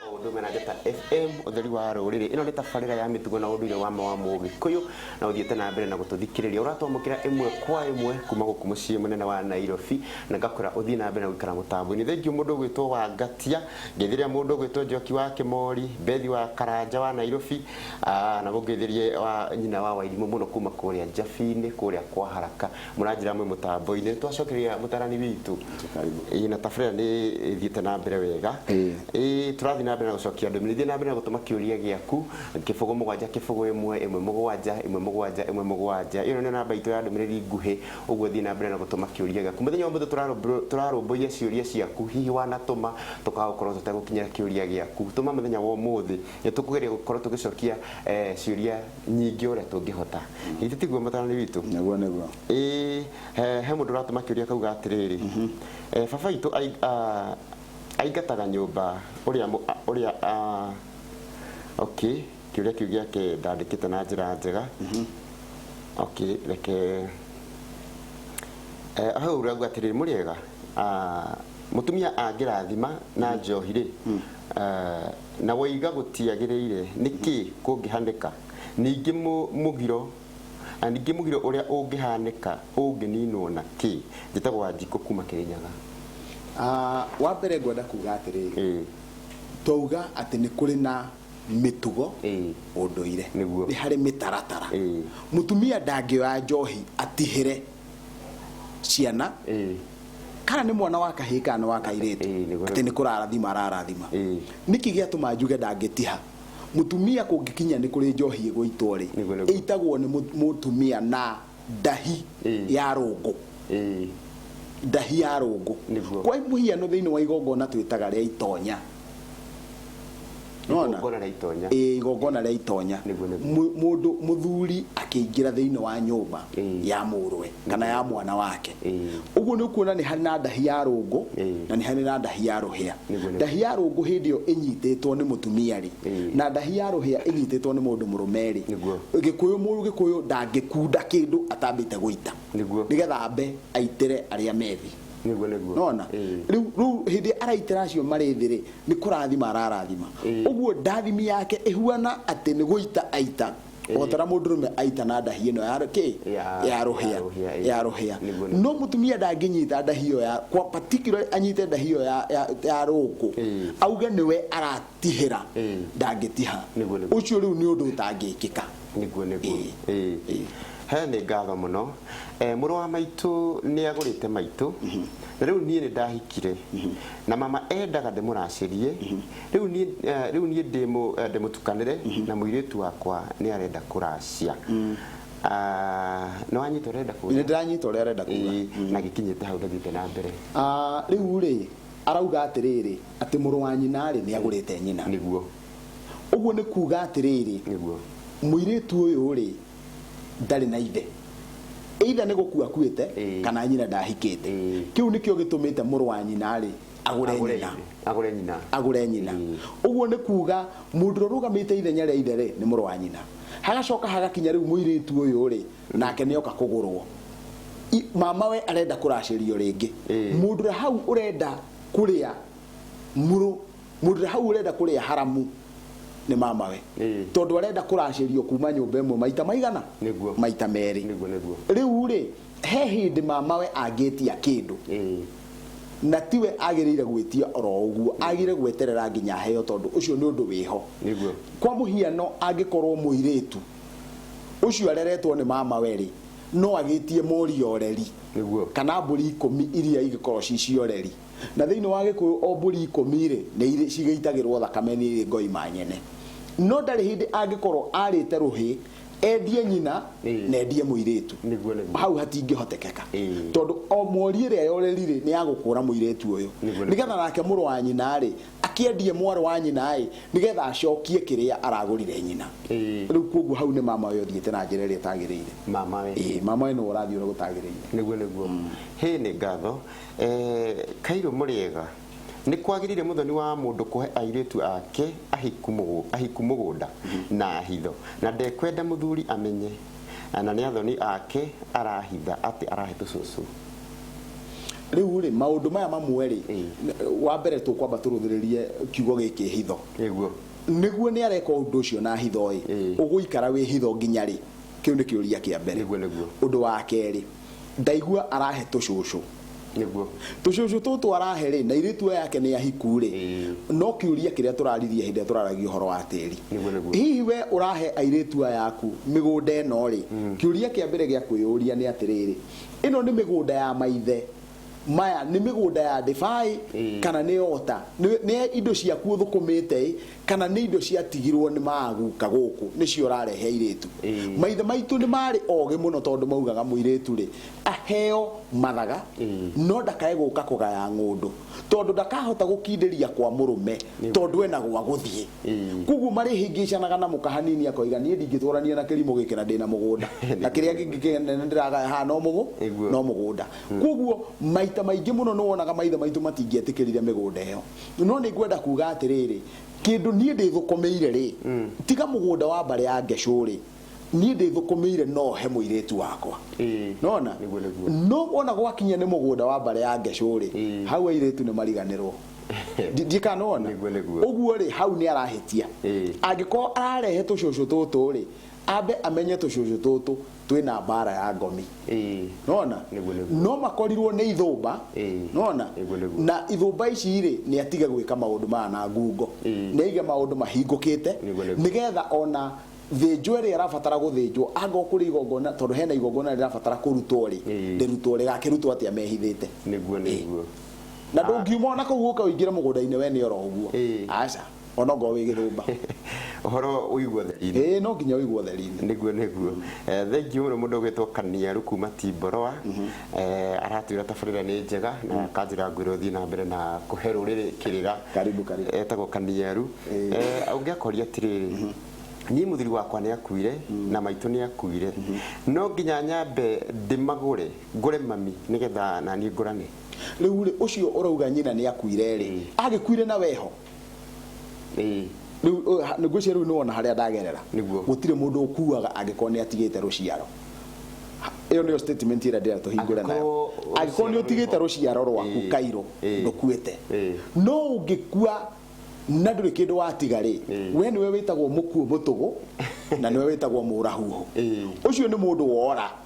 Ũndũme na Njata FM, ũtheri wa rũrĩrĩ. Ĩno nĩ tabarĩra ya mĩtugo na ũndũire wa ma wa Mũgĩkũyũ na ũthiĩte na mbere na gũtũthikĩrĩria. Ũratwamũkĩra ĩmwe kwa ĩmwe kuma gũkũ mũciĩ mũnene wa Nairobi na ngakwĩra ũthiĩ na mbere na gũikara mũtambo-inĩ. Thengiũ mũndũ ũgwĩtwo Wangatia, ngeithĩrĩria mũndũ ũgwĩtwo Njoki wa Kĩmori, Bethi wa Karanja wa Nairobi, ah, na mũngeithĩrie wa nyina wa Wairimũ mũno kuma kũrĩa Njabi-inĩ kũrĩa kwa Haraka. Mũranjĩra mwĩ mũtambo-inĩ, nĩ twacokeria mũtarani witũ. Ĩĩ na tabarĩra nĩ ĩthiĩte na mbere wega. Ĩĩ tũrathiĩ na mbere na gũcokia ndũmĩrĩri. Thiĩ na mbere na gũtũma kĩũria gĩaku, kĩbũgũ mũgwanja kĩbũgũ ĩmwe, ĩmwe mũgwanja, ĩmwe mũgwanja, ĩmwe mũgwanja. Ĩyo nĩyo namba itũ ya ndũmĩrĩri nguhĩ, ũguo thiĩ na mbere na gũtũma kĩũria gĩaku. Mũthenya wa ũmũthĩ tũrarũmbũiya ciũria ciaku, hihi wanatũma tũgagũkorwo tũtegũkinyĩra kĩũria gĩaku. Tũma mũthenya wa ũmũthĩ, nĩ tũkũgeria gũkorwo tũgĩcokia ciũria. nyingĩ ũrĩa tũngĩhota githĩ tiguo mũtaranĩ witũ naguo nĩguo ĩĩ he, he mũndũ ũratũma kĩũria kauga atĩrĩrĩ mm -hmm. e, baba witũ aingataga nyũmba ũrĩa ũrĩa okay kĩũria kĩu gĩake ndandĩkĩte na njĩra njega mm -hmm. okay reke e, hau rauga atĩrĩrĩ mũrĩega mũtumia angĩrathima na njohi rĩ mm. uh, Na woiga gũtiagĩrĩire, nĩ kĩ kũngĩhanĩka? Ningĩ mũgiro, na ningĩ mũgiro ũrĩa ũngĩhanĩka ũngĩninwo na kĩ? Njĩtagwo Wanjikũ kuuma Kĩrĩnyaga. Wa mbere ngwenda kuuga atĩrĩrĩ, twauga atĩ nĩ kũrĩ na mĩtugo, ũndũire, nĩ harĩ mĩtaratara. Mũtumia ndangĩoya njohi atihĩre. ciana ĩĩ kana nĩ mwana wa kahĩĩ kana nĩ wa kairĩtu Ĩĩ, nĩ kweli. atĩ nĩ kũrarathima ararathima Ĩĩ. nĩkĩ gĩatũma njuge ndangĩtiha mũtumia kũngĩkinya nĩ kũrĩ njohi ĩgũitwo rĩ Nĩ kweli. ĩitagwo nĩ mũ- mũtumia na ndahi Ĩĩ. ya rũngũ ĩĩ ndahi ya rũngũ Nĩguo. kwa mũhiano thĩinĩ wa igongona twĩtaga rĩa itonya Nĩwona? Igongona rĩa itonya. Ĩĩ, igongona rĩa itonya Nĩguo, nĩguo. Mũ- mũndũ mũthuri akĩingĩra thĩinĩ wa nyũmba Ĩĩ. ya mũrwe kana ya mwana wake Ĩĩ. ũguo nĩ ũkuona nĩ harĩ na ndahi ya rũngũ Ĩĩ. na nĩ harĩ na ndahi ya rũhĩa Nĩguo, nĩguo. ndahi ya rũngũ hĩndĩ ĩyo ĩnyitĩtwo nĩ mũtumia rĩ Ĩĩ. na ndahi ya rũhĩa ĩnyitĩtwo nĩ mũndũ mũrũme rĩ Nĩguo. gĩkũyũ mũru gĩkũyũ ndangĩkunda kĩndũ atambĩte gũita Nĩguo. nĩgetha ambe aitĩre arĩa methi nĩguo nĩguo nona Ĩĩ. rĩu rĩu hĩndĩ araitĩra acio marĩ thĩ rĩ nĩ kũrathima ararathima Ĩĩ. ũguo ndathimi yake ĩhuana atĩ nĩ gũita aita o ta ũrĩa mũndũrũme aita na ndahi ĩno ya kĩ Ya- ya rũhĩa ya rũhĩa, ĩĩ. ya rũhĩa Nĩguo, nĩguo. no mũtumia ndangĩnyita ndahi ĩyo ya kwa particular anyite ndahi ĩyo ya- ya- ya rũkũ Ĩĩ. auge nĩwe aratihĩra Ĩĩ. ndangĩtiha Nĩguo, nĩguo. ũcio rĩu nĩ ũndũ ũtangĩkĩka Nĩguo nĩguo. Ĩĩ. Ĩĩ. Ĩĩ. He nĩ ngatho mũno. Eh, mũrũ wa maitũ nĩ agũrĩte maitũ. Na rĩu niĩ nĩ ndahikire. Na mama endaga ndĩmũracĩrie. Rĩu niĩ eh, rĩu niĩ ndĩmũ eh, ndĩmũtukanĩre na mũirĩtu wakwa nĩ arenda kũracia. Ah, nĩ wanyita ũrĩa arenda kuga? Nĩ ndĩranyita ũrĩa arenda kuga. Ĩĩ, na gĩkinyĩte hau ndathiĩte na mbere. Ah, rĩu rĩ arauga atĩrĩrĩ atĩ mũrũ wa nyina rĩ nĩ agũrĩte nyina. Nĩguo. Ũguo nĩ kuuga atĩrĩrĩ, Nĩguo. mũirĩtu ũyũ-rĩ, ndarĩ na ithe. Either nĩ gũkua akuĩte, Ĩĩ. kana nyina ndahikĩte. Ĩĩ. Kĩu nĩkĩo gĩtũmĩte mũrũ wa nyina-rĩ, agũre Agũre nyina. ithe. Agũre nyina. agũre nyina Ĩĩ. ũguo nĩ kuuga mũndũ ũrĩa ũrũgamĩte ithenya rĩa ithe rĩ nĩ mũrũ wa nyina hagacoka hagakinya rĩu mũirĩtu ũyũ rĩ nake nĩ oka kũgũrwo I- mamawe arenda kũracĩrio rĩngĩ Ĩĩ. mũndũ ũrĩa hau ũrenda kũrĩa mũrũ Mũndũ hau ũrenda kũrĩa haramu nĩ mamawe tondũ arenda kũracĩrio kuma nyũmba ĩmwe maita maigana maita merĩ rĩu rĩ he hĩndĩ mamawe angĩtia kĩndũ na tiwe agĩrĩire gwĩtia oro ũguo agĩrĩire gweterera nginya heo tondũ ũcio nĩ ũndũ wĩho kwa mũhiano angĩkorwo mũirĩtu ũcio areretwo nĩ mamawe rĩ no agĩtie mori oreri kana mbũri ikũmi iria igĩkorwo ci cioreri Na thĩinĩ wa Gĩkũyũ o mbũri ikũmi-rĩ, nĩ irĩ cigĩitagĩrwo thakame nĩ irĩ ngoima nyene. No ndarĩ hĩndĩ angĩkorwo arĩte rũhĩ endie nyina na endie mũirĩtu. Hau hatingĩhotekeka. Tondũ o mori ĩrĩa yoreri-rĩ, nĩ ya gũkũũra mũirĩtu ũyũ. Nĩ getha nake mũrũ wa nyina-rĩ, akĩendie mwarĩ wa nyina-ĩ, nĩ getha acokie kĩrĩa aragũrire nyina. Rĩu kwoguo hau nĩ mamawe ũthiĩte na njĩra ĩrĩa ĩtagĩrĩire. Ĩĩ, mamawe nĩwe ũrathiĩ ũrĩa gũtagĩrĩire. Nĩguo nĩguo. Hĩ nĩ ngatho. Ee, Kairũ mũrĩega. Nĩ kwagĩrĩire mũthoni wa mũndũ kũhe airĩtu ake ahiku mũgũ- ahiku mũgũnda na hitho, na ndekwenda mũthuri amenye, na nĩ athoni ake arahitha atĩ arahe tũcũcũ. Rĩu rĩ, maũndũ maya mamwe rĩ, Ĩĩ. wa mbere tũkwamba tũrũthĩrĩrie kiugo gĩkĩ hitho. Nĩguo. Nĩguo nĩ areka ũndũ ũcio na hitho ĩ, Ĩĩ. ũgũikara wĩ hitho nginya rĩ? Kĩu nĩ kĩũria kĩa mbere. Nĩguo, nĩguo. Ũndũ wa kerĩ, ndaigua arahe tũcũcũ nĩguo tũcũcũ tũtũ arahe rĩ na irĩtu aya yake nĩ ahiku rĩ no kĩũria kĩrĩa tũraririe hĩndĩ ĩrĩa tũraragia ũhoro wa tĩri Nĩguo, nĩguo. hihi we ũrahe airĩtu aya aku mĩgũnda ĩno rĩ kĩũria kĩa mbere gĩa kwĩyũria nĩ atĩrĩrĩ ĩno nĩ mĩgũnda ya maithe maya nĩ mĩgũnda ya ndĩbaĩ mm. kana nĩ ota nĩ indo ciaku ũthũkũmĩte kana nĩ indo ciatigirwo nĩ maguka gũkũ nĩcio ũrarehe airĩtu mm. maithe maitũ nĩ marĩ ogĩ mũno tondũ maugaga mũirĩtu rĩ aheo mathaga mm. no ndakae gũka kũgaya ng'ũndũ tondũ ndakahota gũkindĩria kwa mũrũme tondũ ena gwa gũthiĩ mm. koguo marĩhĩngĩcanaga na mũka hanini akoiga niĩ ndingĩtwarania na kĩrimũ gĩkĩra ndĩna mũgũnda na kĩrĩa kĩngĩ kĩnene ndĩragaya ha no mũgũ no mũgũnda Kwoguo maita maingĩ mũno nĩ wonaga maithe maitũ matingĩetĩkĩrire mĩgũnda ĩyo. No nĩ ngwenda kuuga atĩrĩrĩ, kĩndũ niĩ ndĩthũkũmĩire-rĩ, tiga mũgũnda wa mbarĩ ya Ngeshũ-rĩ, niĩ ndĩthũkũmĩire no he mũirĩtu wakwa. Nĩ wona? No wona gwakinya nĩ mũgũnda wa mbarĩ ya Ngeshũ-rĩ, hau airĩtu nĩ mariganĩrwo. Ndiũĩ kana nĩ wona? Ũguo-rĩ, hau nĩ arahĩtia. Angĩkorwo ararehe tũcũcũ tũtũ-rĩ, ambe amenye tũcũcũ tũtũ twina mbara ya ngomi Ĩĩ. nona Nĩguo, nĩguo. no makorirwo nĩ ithũmba Ĩĩ. nona Nĩguo, nĩguo. na ithũmba ici rĩ nĩ atige gwĩka maũndũ maya na ngungo Ĩĩ. nĩ aige maũndũ mahingũkĩte Nĩguo, nĩguo. nĩgetha ona thĩnjwo ĩrĩa ĩrabatara gũthĩnjwo anga kũrĩ igongona tondũ hena igongona rĩrabatara kũrutwo rĩ Ĩĩ. rĩrutwo rĩgakĩrutwo atĩa mehithĩte nĩguo nĩguo na ndũngiuma ona kũu ũka ũingĩre mũgũnda-inĩ we nĩ oro ũguo Ĩĩ. aca ona ongorwo wĩ gĩthũmba ũhoro ũigwo theri-inĩ ĩĩ no nginya ũigwo theri-inĩ nĩguo nĩguo Eh, thengiũ mũno mũndũ ũgwĩtwo kaniaru kuma timboroa Eh, aratwĩra tabarĩra nĩ njega na akanjĩra ngwĩra ũthiĩ na mbere na kũhe rũrĩrĩ kĩrĩra Karibu, karibu. etagwo kaniaru Ĩĩ. Eh, ũngĩakoria atĩrĩrĩ niĩ mũthuri wakwa nĩ akuire na maitũ nĩ akuire no nginya nyambe ndĩmagũre ngũre mami nĩgetha naniĩ ngũrane rĩu rĩ ũcio ũrauga nyina nĩ akuire rĩ agĩkuire na weho Ĩĩ. Rĩu ũyũ ha- ngwĩciria rĩu nĩwona harĩa ndagerera Nĩguo. gũtirĩ mũndũ ũkuaga angĩkorwo nĩ atigĩte rũciaro Ha- ĩyo nĩyo statement ĩrĩa ndĩrenda tũhingũre nayo Angĩkorwo angĩkorwo nĩ rũciaro ũtigĩte rwĩho. rũciaro rwaku Ĩĩ. kairũ Ĩĩ. ndũkuĩte Ĩĩ. no ũngĩkua na ndũrĩ kĩndũ watiga rĩ Ĩĩ. we nĩwe wĩtagwo mũkuũ mũtũgũ na nĩwe wĩtagwo mũrahuhũ Ĩĩ. ũcio nĩ mũndũ wora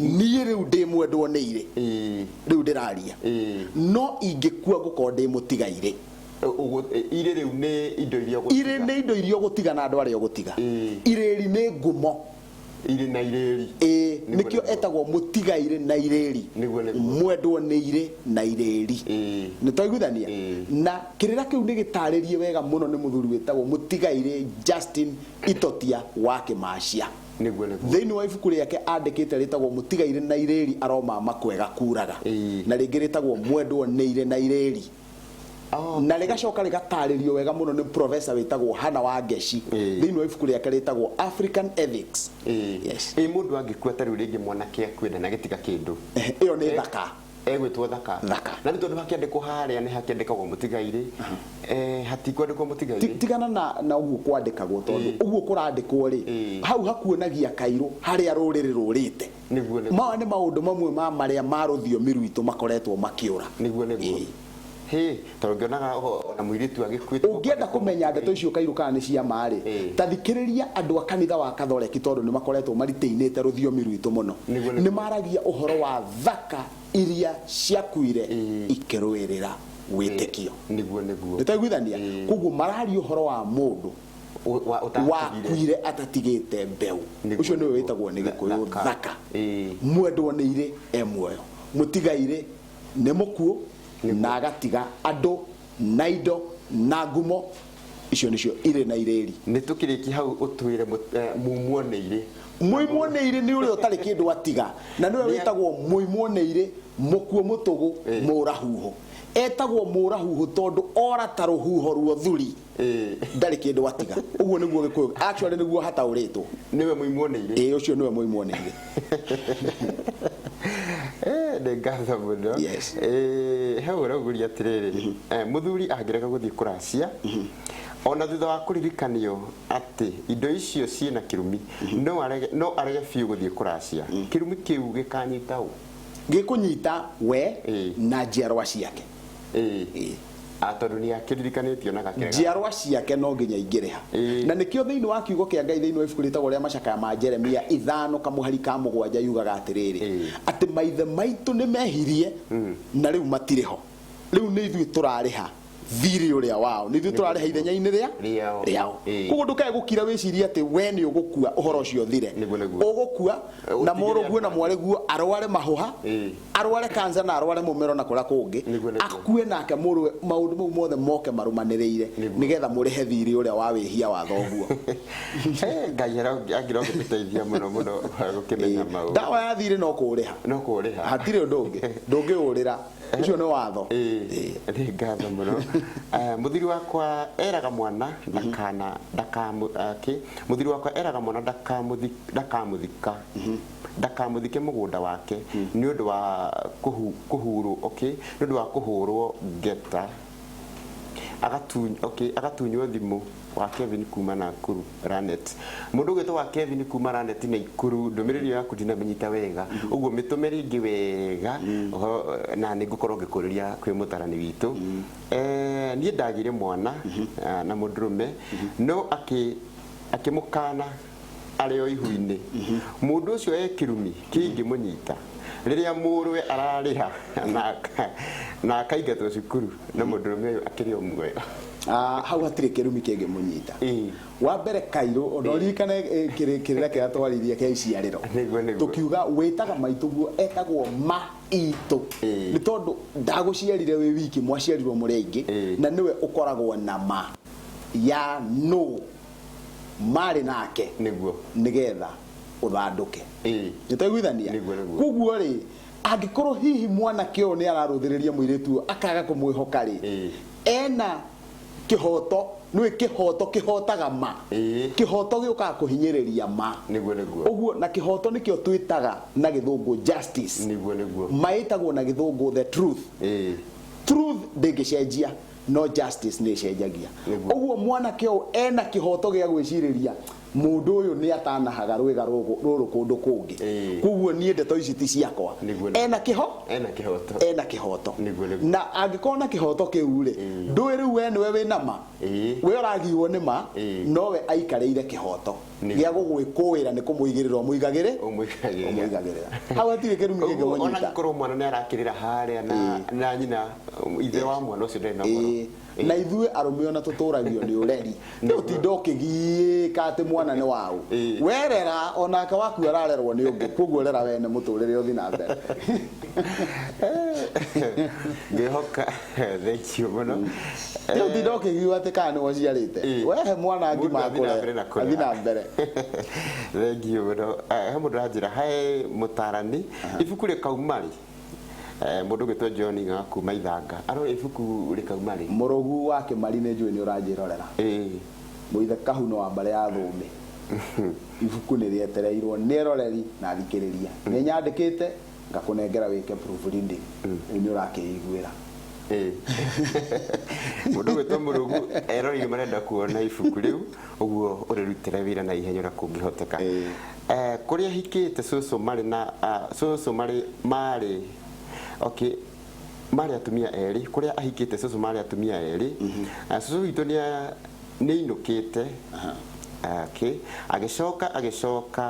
niĩ rĩu ndĩ mwendwo nĩ irĩ rĩu ndĩraria no ingĩkua ngũkorwo ndĩ mũtigairĩ irĩ rĩu nĩ indo iria irĩ nĩ indo iria ũgũtiga na andũ arĩa ũgũtiga irĩri nĩ ngumo irĩ na irĩri ĩĩ nĩkĩo etagwo mũtigairĩ na irĩri mwendwo nĩ irĩ na irĩri nĩ twaiguithania na kĩrĩra kĩu nĩ gĩtarĩrie wega mũno nĩ mũthuri wĩtagwo mũtigairĩ Justin Itotia wa Kĩmacia Nĩguo, nĩguo. Thĩinĩ wa ibuku rĩake andĩkĩte rĩtagwo Mũtigairĩ na Irĩĩri Aroma Makwega Kuuraga, Ĩĩ. na rĩngĩ rĩtagwo Mwendwo nĩ Irĩ na Irĩĩri, Oh, na rĩgacoka rĩgataarĩrio wega mũno nĩ professor wĩtagwo Hannah Wangeci Ĩĩ. thĩinĩ wa ibuku rĩake rĩtagwo African Ethics. ĩĩ. Yes. Ĩĩ, mũndũ angĩkua ta rĩu rĩngĩ mwanake akue ndanagĩtiga kĩndũ. Ĩyo nĩ thaka. egwĩtwo thaka Thaka. na nĩ tondũ hakĩandĩkwo harĩa nĩ hakĩandĩkagwo mũtigairĩ eh, hatikwandĩkwo Ti- mũtigairĩ tigana na na ũguo kwandĩkagwo tondũ Ĩĩ. ũguo kũrandĩkwo rĩ Ĩĩ. hau hakuonagia kairũ harĩa rũrĩrĩ rũrĩte Nĩguo, nĩguo. maya nĩ maũndũ mamwe ma marĩa ma rũthiomi rwitũ makoretwo makĩũra nĩguo nĩguo Ĩĩ. Hĩ, tondũ ngĩonaga ũhoro o na mũirĩtu agĩkuĩte gũkũ Ũngĩenda andũ kũmenya ndeto icio kairũ kana nĩ cia ma-rĩ, Ĩ. ta thikĩrĩria andũ a kanitha wa Kathoreki tondũ nĩ makoretwo maritainĩte rũthiomi rwitũ mũno. Nĩguo, nĩguo. Nĩ maragia ũhoro wa thaka iria ciakuire ikĩrũĩrĩra wĩtĩkio. Nĩguo, nĩguo. Nĩ twaiguithania? Ĩ. Kwoguo mararia ũhoro wa mũndũ Ũ- wa- ũtatigire. wakuire atatigĩte mbeũ. Nĩguo, Ũcio nĩwe nĩguo. wĩtagwo nĩ Gĩkũyũ Thaka. thaka. Ĩ. Mwendwo nĩ irĩ e muoyo, mũtiga irĩ nĩ mũkuũ na agatiga andũ na indo na ngumo icio nĩcio irĩ na irĩri nĩ tũkĩrĩki hau ũtwĩre mũt- eh, mumwo nĩ irĩ mũimwo nĩ irĩ nĩ ũrĩa ũtarĩ kĩndũ atiga na nĩwe Nĩ- wĩtagwo mũimwo nĩ irĩ mũkuo mũtũgũ Ĩ. mũũra huho etagwo mũũra huho tondũ ora ta rũhuho ruo thuri ndarĩ kĩndũ watiga ũguo nĩguo gĩkũyũ actually nĩguo hataũrĩtwo nĩwe mũimuoneire ĩĩ ũcio nĩwe mũimuoneire Eh, nĩ ngatho mũno Yes. Eh, he ũraugũria atĩrĩrĩ eh, mũthuri angĩrega gũthiĩ kũracia ona thutha wa kũririkanio atĩ indo icio ciĩ na kĩrumi no arege- no arege biũ gũthiĩ kũracia kĩrumi kĩu gĩkanyita ũ gĩkũnyita we Ĩĩ. na njiarwa ciake Ĩĩ. Ĩĩ. A, tondũ nĩ akĩririkanĩtio na gakega. Njiarwa ciake no nginya ingĩrĩha. Ĩĩ. Na nĩkĩo thĩinĩ wa Kiugo kĩa Ngai thĩinĩ wa ibuku rĩtagwo rĩa Macakaya ma Jeremia ithano kamũhari ka mũgwanja yugaga atĩrĩrĩ, Ĩĩ. atĩ maithe maitũ nĩ mehirie na rĩu matirĩ ho. Rĩu nĩ ithuĩ tũrarĩha thiirĩ ũrĩa wao. Nĩ ithuĩ tũrarĩha ithenya-inĩ rĩa Rĩao. rĩao. Ĩĩ. Kwoguo ndũkae gũkira wĩcirie atĩ we nĩ ũgũkua ũhoro ũcio ũthire. Nĩguo, nĩguo. Ũgũkua na Ũtigĩre mũrũguo na andũ. mwarĩguo arware mahũha. Ĩĩ. arware kansa na arware mũmero na kũrĩa kũngĩ, Nĩguo, nĩguo. akue nake mũrũwe, maũndũ mau mothe moke marũmanĩrĩire, Nĩguo. nĩgetha mũrĩhe thiirĩ ũrĩa wa wĩhia wa thoguo. Eh, ngai angĩra ũngĩtũteithia mũno mũno gũkĩmenya Ĩĩ, maũndũ ndawa ya thiirĩ no kũũrĩha, no kũũrĩha hatirĩ ũndũ ũngĩ, ndũngĩũrĩra, ũcio nĩ watho. Ĩĩ, nĩ ngatho mũno Eh, mũthiri wakwa eraga mwana ndakana ndakamũ- eh, kĩ? mũthiri wakwa eraga mwana ndakamũthi- ndakamũthika ndakamũthike mũgũnda wake nĩ ũndũ wa kũhu, kũhurwo okay, nĩ ũndũ wa kũhũrwo ngeta agatu, okay, agatunywo thimũ wa Kevin kuma Nakuru Ranet mũndũ ũgwĩtwo wa Kevin kuma Ranet na Ikuru ndũmĩrĩri ĩyo yaku ndinamĩnyita wega ũguo mĩtũme rĩngĩ wega ũhoro na nĩ ngũkorwo ngĩkũrĩria kwĩ mũtarani witũ eh, niĩ ndagire mwana ah, na mũndũrũme no akĩ akĩmũkana arĩ o ihu-inĩ mũndũ ũcio e kĩrumi kĩngĩmũnyita rĩrĩa mũrũwe ararĩha na aka- na akaingatwo cukuru na mũndũrũme ũyũ akĩrĩ o muoyo Ah, hau hatirĩ kĩrumi kĩngĩmũnyita Ĩĩ. wa mbere kairũ ona ũririkane eh, kĩrĩ- kĩrĩra kĩrĩa twaririe kĩa iciarĩro Nĩguo, nĩguo. tũkiuga wĩtaga maitũguo etagwo maitũ Ĩĩ. nĩ tondũ ndagũciarire wĩ wiki mwaciarirwo mũrĩ aingĩ Ĩĩ. na nĩwe ũkoragwo na ma ya nũ marĩ nake nĩguo nĩgetha ũthandũke Ĩĩ. nĩtaiguithania Nĩguo, nĩguo. koguo rĩ angĩkorwo hihi mwanake ũyũ nĩ ararũthĩrĩria mũirĩtu ũyũ akaga kũmwĩhoka rĩ Ĩĩ. ena kĩhoto nĩ kĩhoto kĩhotaga ma Ĩĩ. kĩhoto gĩũkaga kũhinyĩrĩria ma Nĩguo, nĩguo. ũguo na kĩhoto nĩkĩo twĩtaga na gĩthũngũ justice nĩguo nĩguo maĩtagwo na gĩthũngũ the truth Ĩĩ. truth ndĩngĩcenjia no justice nä cenjagia Nĩguo. ũguo mwanake ũyũ ena kĩhoto gĩa gwĩcirĩria mũndũ ũyũ nĩ atanahaga rwĩga rũgũ- rũrũ kũndũ Ĩĩ. kũngĩ koguo niĩ ndeto ici ti ciakwa Nĩguo, nĩguo. ena kĩho ena kihoto ena kĩhoto Nĩguo, nĩguo. na angĩkorwo na kĩhoto kĩu rĩ Ĩĩ. ndũĩ rĩu we nĩwe wĩ nama Ĩĩ. we ũragiirwo nĩ ma Ĩĩ. nowe aikarĩire kĩhoto gĩa gũgwĩkũĩra nĩ kũmũigĩrĩra ũmũigagĩrĩ ũmwĩkagĩrĩra ũmũigagĩrĩra hau hatirĩ kĩrumi kĩngĩ Ũguo, ona mũnyita angĩkorwo mwana nĩ arakĩrĩra harĩa na- na nyina ithe wa mwana ũcio ndarĩ na ũhoro Ĩĩ. Ĩĩ. na ithuĩ arũme ona tũtũragio nĩ ũreri nĩ ũtinda ũkĩgiĩka atĩ mwana nĩ waũ Ĩĩ. werera onake waku ararerwo nĩ ũngĩ kwoguo rera wene mũtũrĩre ũthi na mbere ngehoka Thank you muno. Rĩu Eh, ndinda ũkĩgiwa atĩ kana nĩ ũciarĩte Ĩĩ. wehe mwana Mũndũ ngima athiĩ na mbere na akũre kũrera. athiĩ na mbere thengiå må no he må ndå ranjä ra he må tarani ibuku rä kauma rä må ndå å gä two john ga kuma ithanga arore ibuku rä kauma rä mũrũgu wa kĩmari nĩ njũĩ nĩ ũranjĩrorera mũithe kahuno wa mbarĩ ya thũmbĩ ibuku nĩ rĩetereirwo nĩ eroreri na athikĩrĩria nĩ nyandĩkĩte ngakũnengera wĩke proof reading rĩu nĩ ũrakĩiguĩra Ĩĩ. mũndũ gwĩtwo mũrũgu erori nĩ marenda kuona ibuku rĩu ũguo ũrĩrutĩre wĩra na ihenya ũrĩa kũngĩhoteka Ĩĩ. Eh, kũrĩa hikĩte cũcũ marĩ na ah, cũcũ marĩ marĩ okay marĩ atumia erĩ kũrĩa ahikĩte cũcũ marĩ atumia erĩ Ah, cũcũ witũ nĩ a- nĩ ainũkĩte Okay. agĩcoka agĩcoka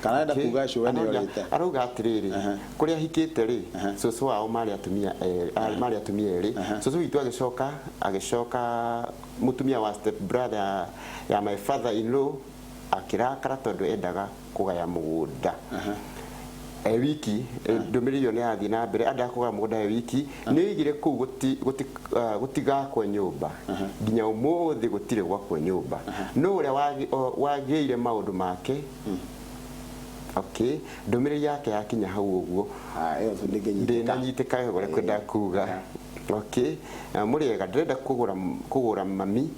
kana enda Okay. kuga cũwe nĩ Arauga- orĩte arauga atĩrĩrĩ Aha. kũrĩa hikĩte rĩ Aha. cũcũ wao marĩ atumia erĩ- a- marĩ atumia erĩ Aha. cũcũ witũ agĩcoka agĩcoka mũtumia wa step brother ya- ya my father in law akĩrakara tondũ endaga kũgaya mũgũnda Aha. e wiki eh, ndũmĩrĩri ĩyo nĩyathiĩ na mbere andaga kũgaya mũgũnda e wiki nĩoigire kũu gũti- gũti- ah, gũtigakwo nyũmba nginya ũmũthĩ gũtirĩ gwakwo nyũmba no ũrĩa wagi- o- wagĩire maũndũ make okay ndũmĩrĩri yake yakinya hau ũguo Ah, ĩyo tu ndĩngĩnyitĩka. ndĩnanyitĩka ũrĩa kwenda kuga okay Ah, mũrĩega ndĩrenda kũgũra kũgũra mami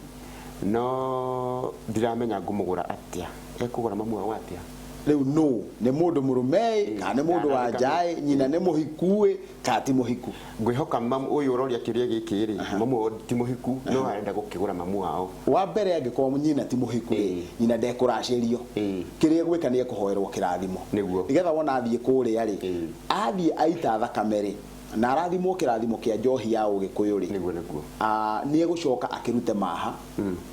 no ndiramenya ngũmũgũra atĩa ekũgũra mamu wao atĩa rĩu nũ nĩ mũndũ mũrũmeĩ kana nĩ mũndũ wa njaĩ nyina nĩ mũhikuĩ kana ti mũhiku ngwĩhoka mam ũyũ ũroria kĩũria gĩkĩ rĩ mamu wao ti mũhiku no arenda gũkĩgũra mamu wao wa mbere angĩkorwo nyina ti mũhiku rĩ Ĩĩ. nyina ndekũracĩrio Ĩĩ. kĩrĩa egwĩka nĩ ekũhoerwo kĩrathimo Nĩguo. nĩgetha wona athiĩ kũrĩa rĩ Ĩĩ. athiĩ aita thakame rĩ na arathimwo kĩrathimo kĩa njohi ya ũgĩkũyũ rĩ nĩguo nĩguo Ah, nĩ egũcoka akĩrute maha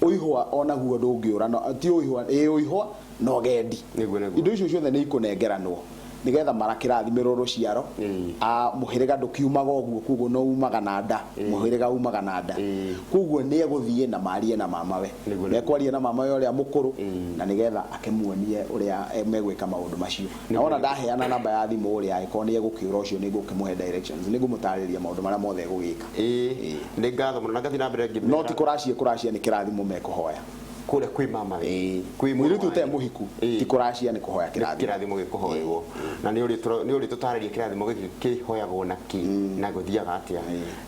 ũihwa onaguo ndũngĩũra no- ti ũihwa ĩ ũihwa na ũgendi Nĩguo, nĩguo. indo icio ciothe nĩ ikũnengeranwo nĩgetha mara kĩrathimĩrwo rũciaro Ĩĩ. Ah, mũhĩrĩga ndũkiumaga ũguo koguo no umaga na nda mũhĩrĩga umaga na nda Ĩĩ. koguo nĩ egũthiĩ na marie na mamawe Nĩguo, nĩguo. mekwaria na mamawe ũrĩa mũkũrũ Ĩĩ. na nĩgetha akĩmuonie ũrĩa eh, megwĩka maũndũ macio na wona ndaheana namba ya thimũ ũrĩa angĩkorwo nĩ egũkĩũra ũcio nĩ ngũkĩmũhe directions nĩ ngũmũtarĩria maũndũ marĩa mothe egũgĩka ĩĩ nĩ ngatho mũno na ngathiĩ na mbere ngĩmera no ti kũracia kũracia nĩ kĩrathimo mekũhoya kũrĩa kwĩ mama witũ, Ĩĩ. kwĩ mũrũ Mũirĩtu ũtarĩ wanyu. mũhiku Ĩĩ. ti kũracia nĩ kũhoya Nĩ kĩrathimo. kĩrathimo gĩkũhoerwo na nĩ ũrĩ tũra- nĩ ũrĩ tũtarĩria kĩrathimo gĩkĩ kĩhoyagwo na kĩ na gũthiaga atĩa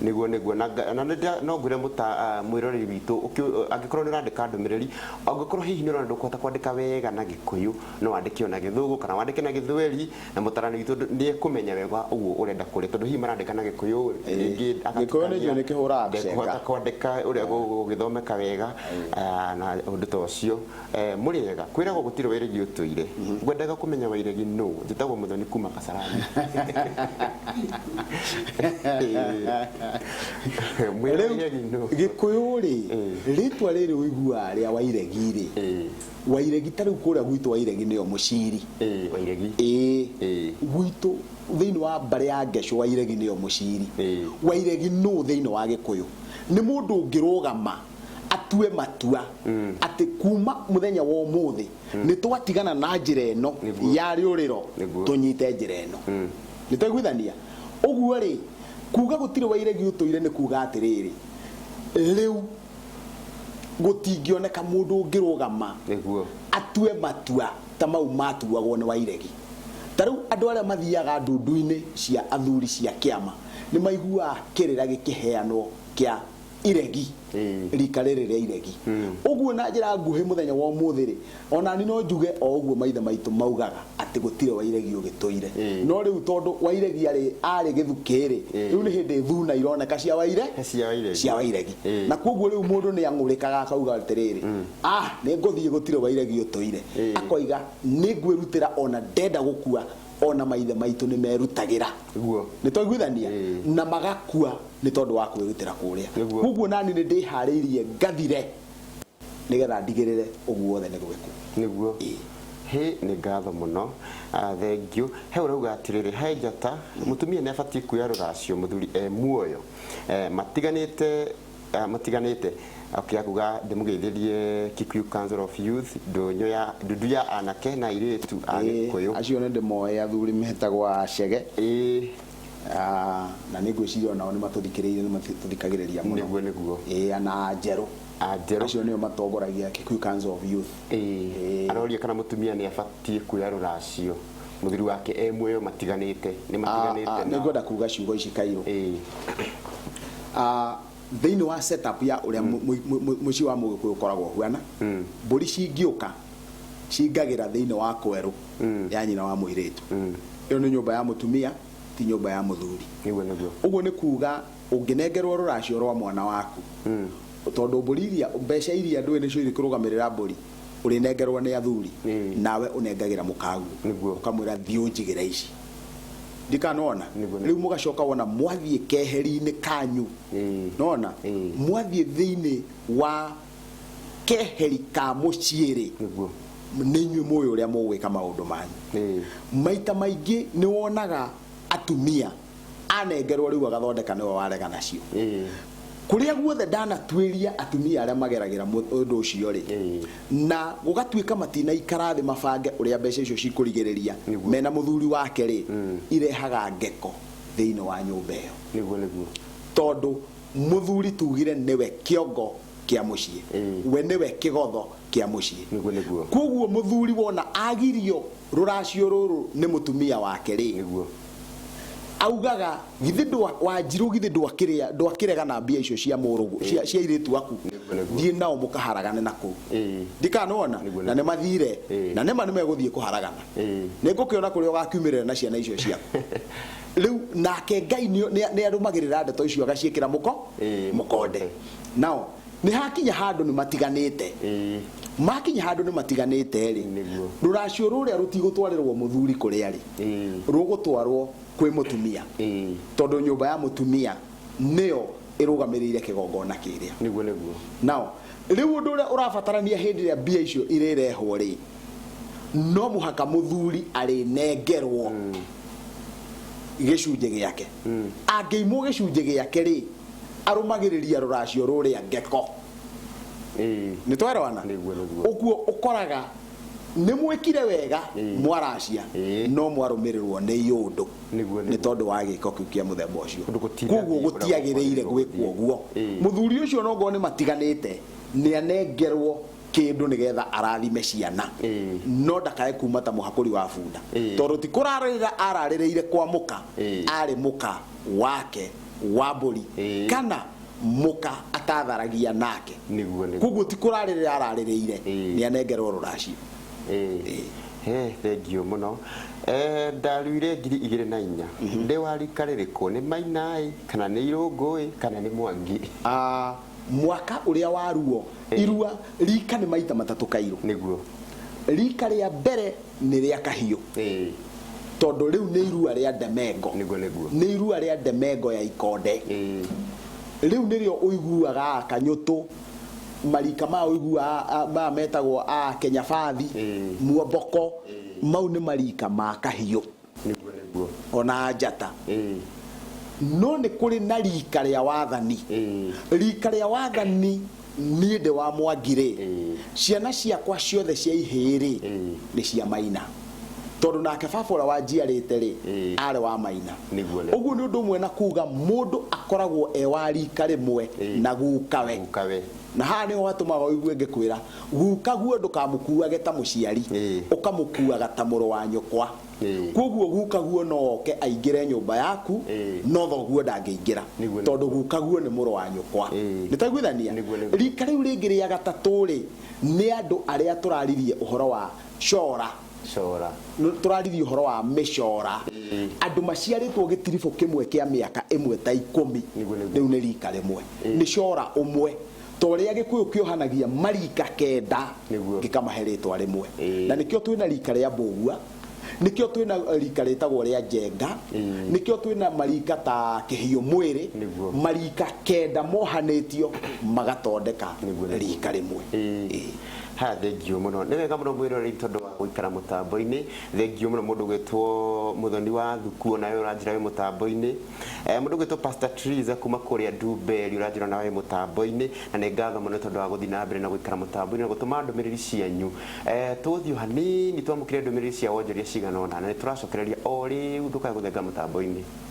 nĩguo nĩguo na nga- na nĩndĩra- no ngwĩre mũta- ah, mwĩroreri witũ ũkĩ- angĩkorwo nĩ ũrandĩka ndũmĩrĩri angĩkorwo hihi nĩ ũrona ndũkũhota kwandĩka wega na gĩkũyũ no wandĩke ona gĩthũngũ kana wandĩke na gĩthweri Na mũtarani witũ ndũ- nĩekũmenya wega ũguo ũrenda kũrĩa tondũ hihi marandĩka na gĩkũyũ rĩngĩ Gĩkũyũ nĩ agatukania, njũĩ nĩkĩhũraga ndekũhota mbica. kwandĩka ũrĩa gũ- gũgĩthomeka wega ah, na ũndũ ta ũcio Eh, mũrĩ ega kwĩragwo gũtirĩ wairegi ũtũire ngwendaga kũmenya wairegi nũ njĩtagwo mũthoni kuma kasarani Mwĩra wairegi nũ? gĩkũyũ rĩ rĩtwa rĩrĩ ũiguaga rĩa wairegi rĩ Eh. Wairegi ta rĩu kũrĩa gwitũ Wairegi nĩyo mũciri. Ĩĩ Wairegi. Ĩĩ. Ĩĩ. Gwitũ thĩinĩ wa mbarĩ ya Ngecũ Wairegi nĩyo mũciri. Ĩĩ. Wairegi nũ thĩinĩ wa Gĩkũyũ? Nĩ mũndũ ũngĩrũgama atue matua atĩ kuma mũthenya wa ũmũthĩ nĩ twatigana na njĩra ĩno Nĩguo. ya rĩũrĩro Nĩguo. tũnyite njĩra ĩno. Nĩ twaiguithania? Ũguo rĩ, kuga gũtirĩ Wairegi ũtũire nĩ kuga atĩrĩrĩ, rĩu gũtingĩoneka mũndũ ũngĩrũgama nĩguo atue matua ta mau matuagwo nĩ wairegi ta rĩu andũ arĩa mathiaga ndundu-inĩ cia athuri cia kĩama nĩ maiguaga kĩrĩra gĩkĩheanwo kĩa iregi Ĩĩ. rika rĩrĩ rĩa iregi ũguo na njĩra nguhĩ mũthenya wa ũmũthĩ rĩ O nani no njuge o ũguo maithe maitũ maugaga atĩ gũtirĩ wa iregi ũgĩtũire. No rĩu tondũ wa iregi arĩ arĩ gĩthukĩ-rĩ, rĩu nĩ hĩndĩ thuna ironeka cia wa ire Cia wa iregi. cia wa iregi. Na kwoguo rĩu mũndũ nĩ ang'ũrĩkaga akauga atĩrĩrĩ, ah, nĩ ngũthiĩ gũtirĩ wa iregi ũtũire. Akoiga nĩ ngwĩrutĩra o na ndenda gũkua o na maithe maitũ nĩ merutagĩra. Guo. Nĩ twaiguithania? Na magakua nĩ tondũ wa kwĩrutĩra kũrĩa. Nĩguo. Kwoguo nani nĩ ndĩharĩirie ngathire. Nĩ getha ndigĩrĩre ũguo wothe nĩ gwĩkwo. Nĩguo? Ĩĩ. Hĩ, nĩ ngatho mũno. Ah, thengiũ. He ũrauga atĩrĩrĩ, He njata, mũtumia nĩ abatiĩ kuoya rũracio mũthuri e muoyo. Eh, matiganĩte, ah, matiganĩte. Okay, akuga ndĩmũgeithĩrie Kikuyu Council of Youth, ndũnyũ ya, ndundu ya anake na airĩtu a Ĩĩ, Gĩkũyũ. acio nĩ ndĩmoĩ athuri metagwo a Chege. Ĩĩ. Ah, na nĩ ngwĩciria o nao nĩ matũthikĩrĩire, nĩ matũthikagĩrĩria mũno. Nĩguo, nĩguo. Ĩĩ, ana a Njerũ. Ah, njerũ ũcio nĩo matongoragia Kikuyu Council of Youth Ĩĩ. aroria kana mũtumia nĩ abatiĩ kuoya rũracio mũthuri wake e muoyo matiganĩte nĩ Ah, ah, matiganĩte nĩ ngwenda kuga ciugo ici kairũ Ĩĩ. Ah, thĩinĩ wa setup ya ũrĩa mu- mu- mu- mu- mũciĩ wa mũgĩkũyũ ũkoragwo ũhuana mbũri cingĩũka cingagĩra thĩinĩ wa kwerũ ya nyina wa mũirĩtu ĩyo nĩ nyũmba ya mũtumia ti nyũmba ya mũthuri nĩguo nĩguo ũguo nĩ kuga ũngĩnengerwo rũracio rwa mwana waku, tondũ mbũri iria, mbeca iria ndũĩ nĩcio irĩkũrũgamĩrĩra mbũri, ũrĩnengerwo nĩ athuri, nawe ũnengagĩra mũkaguo, ũkamwĩra thiĩ ũnjigĩre ici. Ndikanona? Rĩu mũgacoka wona mwathiĩ keheri-inĩ kanyu, nĩwona, mwathiĩ thĩinĩ wa keheri ka mũciĩ-rĩ, nĩ inyuĩ mũĩ ũrĩa mũgwĩka maũndũ manyu. Maita maingĩ nĩwonaga atumia anengerwo rĩu agathondeka nĩwe warega nacio kũrĩa guothe ndanatuĩria atumia arĩa mageragĩra mũ- ũndũ ũcio rĩ na gũgatuĩka matinaikara thĩ mabange ũrĩa mbeca icio cikũrigĩrĩria Nĩguo. mena mũthuri wake rĩ irehaga ngeko thĩinĩ wa nyũmba ĩyo nĩguo nĩguo tondũ mũthuri tugire nĩwe kĩongo kĩa mũciĩ Ĩĩ. we nĩwe kĩgotho kĩa mũciĩ Nĩguo, nĩguo. kwoguo mũthuri wona agirio rũracio rũrũ nĩ mũtumia wake rĩ nĩguo augaga githĩ ndwa wanjirũ githĩ ndwakĩrĩa ndwakĩrega na mbia icio cia mũrũgũ cia, cia irĩtu aku Nĩguo, nĩguo. thiĩ nao mũkaharagane na kũu Ĩĩ. ndikanona Nĩguo, na nĩguo. nĩ mathire Ĩĩ. na nĩma nĩ megũthiĩ kũharagana Ĩĩ. nĩ ngũkĩona kũrĩa ũgakiumĩrĩra na ciana icio ciaku rĩu nake ngai nĩ nĩ- nĩ arũmagĩrĩra ndeto icio agaciĩkĩra mũko Ĩĩ, mũkonde nao nĩ hakinya handũ nĩ matiganĩte Ĩĩ. makinya handũ nĩ matiganĩte rĩ Nĩguo. rũracio rũrĩa rũtigũtwarĩrwo mũthuri kũrĩa rĩ Ĩĩ. rũgũtwarwo kwĩ mũtumia Ĩĩ. tondũ nyũmba ya mũtumia nĩyo ĩrũgamĩrĩire kĩgongona kĩrĩa nĩguo nĩguo nao rĩu ũndũ ũrĩa ũrabatarania hĩndĩ ĩrĩa mbia icio irĩrehwo rĩ no mũhaka mũthuri arĩnengerwo gĩcunjĩ gĩake angĩimwo gĩcunjĩ gĩake-rĩ, arũmagĩrĩria rũracio rũrĩa ngeko. Nĩ twaerewana? Ũguo ũkoraga nĩ mwĩkire wega mwaracia no mwarũmĩrĩrwo nĩ iũndũ nĩ tondũ wa gĩko kĩu kĩa mũthemba ũcio. Kwoguo gũtiagĩrĩire gwĩkwo ũguo. Mũthuri ũcio ona okorwo nĩ matiganĩte nĩ anengerwo. kĩndũ nĩgetha arathime ciana Ĩĩ. no ndakae kuma ta mũhakũri wa bunda Ĩĩ. tondũ ti kũrarĩrĩra ararĩrĩire kwa mũka Ĩĩ. arĩ mũka wake wa mbũri Ĩĩ. kana mũka atatharagia nake Nĩguo, nĩguo. koguo ti kũrarĩrĩra ararĩrĩire Ĩĩ. nĩ anengerwo rũracio Ĩĩ. He, thengiũ mũno Eh, ndaruire ngiri igĩrĩ na inya ndĩ wa rika rĩrĩkũ nĩ mainaĩ kana nĩ irũngũĩ kana nĩ mwangi Ah, mwaka uria wa ruo eh. irua rika ni maita matatu kairu niguo rika ria mbere ni ria kahiu eh. tondu riu ni irua ria ndemengo niguo niguo ni irua ria ndemengo ya ikonde eh. riu nirio uiguaga akanyutu marika ma uiguaga ma metagwo a Kenya bathi muomboko mau ni marika ma kahiu nĩguo nĩguo o na njata Ĩĩ. no nĩ kũrĩ na rika rĩa wathani Ĩĩ. rika rĩa wathani niĩ ndĩ wa mwangirĩ Ĩĩ. ciana ciakwa ciothe cia ihĩĩ-rĩ Ĩĩ. nĩ cia maina tondũ nake baba ũrĩa wanjiarĩte-rĩ Ĩĩ. arĩ wa maina Nĩguo, nĩguo. ũguo nĩ ũndũ ũmwe na kuga mũndũ akoragwo e wa rika rĩmwe Ĩĩ. na gukawe Gukawe. na haha nĩho hatũmaga ũigue ngĩkwĩra Gukaguo ndũkamũkuuage ta mũciari, ũkamũkuuaga ta mũrũ wa nyũkwa. Kwoguo gukaguo no oke aingĩre nyũmba yaku, no thoguo ndangĩingĩra, tondũ gukaguo nĩ mũrũ wa nyũkwa. Nĩ twaiguithania? Rika rĩu rĩngĩ rĩa gatatũ-rĩ, nĩ andũ arĩa tũraririe ũhoro wa cora, tũraririe ũhoro wa mĩcora. Andũ maciarĩtwo gĩtiribũ kĩmwe kĩa mĩaka ĩmwe ta ikũmi, rĩu nĩ rika rĩmwe, nĩ cora ũmwe. ta ũrĩa Gĩkũyũ kĩohanagia mariika kenda Nĩguo. gĩkamahe rĩtwa rĩmwe. Ĩĩ. Na nĩkĩo twĩna riika rĩa Mbũgua, nĩkĩo twĩna riika rĩtagwo rĩa Njenga, Ĩĩ. nĩkĩo twĩna mariika ta Kĩhiũ Mwĩrĩ, Nĩguo. mariika kenda mohanĩtio magatondeka Nĩguo, nĩguo. riika rĩmwe. Ĩĩ. Ĩĩ. haya thengiũ mũno nĩ wega mũno mwĩroreri tondũ wa gũikara mũtambo-inĩ thengiũ mũno mũndũ gwĩtwo mũthoni wa thuku nawe ũranjĩra wĩ mũtambo-inĩ Eh, Mũndũ gwĩtwo Pastor Teresa kuma kũrĩa Ndumberi ũranjĩra nawe wĩ mũtambo-inĩ na nĩ ngatho mũno tondũ wa gũthiĩ na mbere na gũikara mũtambo-inĩ na gũtũma ndũmĩrĩri cianyu. Eh, Tũgũthiĩ o hanini twamũkĩre ndũmĩrĩri cia wonjoria cigana ũna na nĩ tũracokereria o rĩu ndũkae gũthenga mũtambo-inĩ.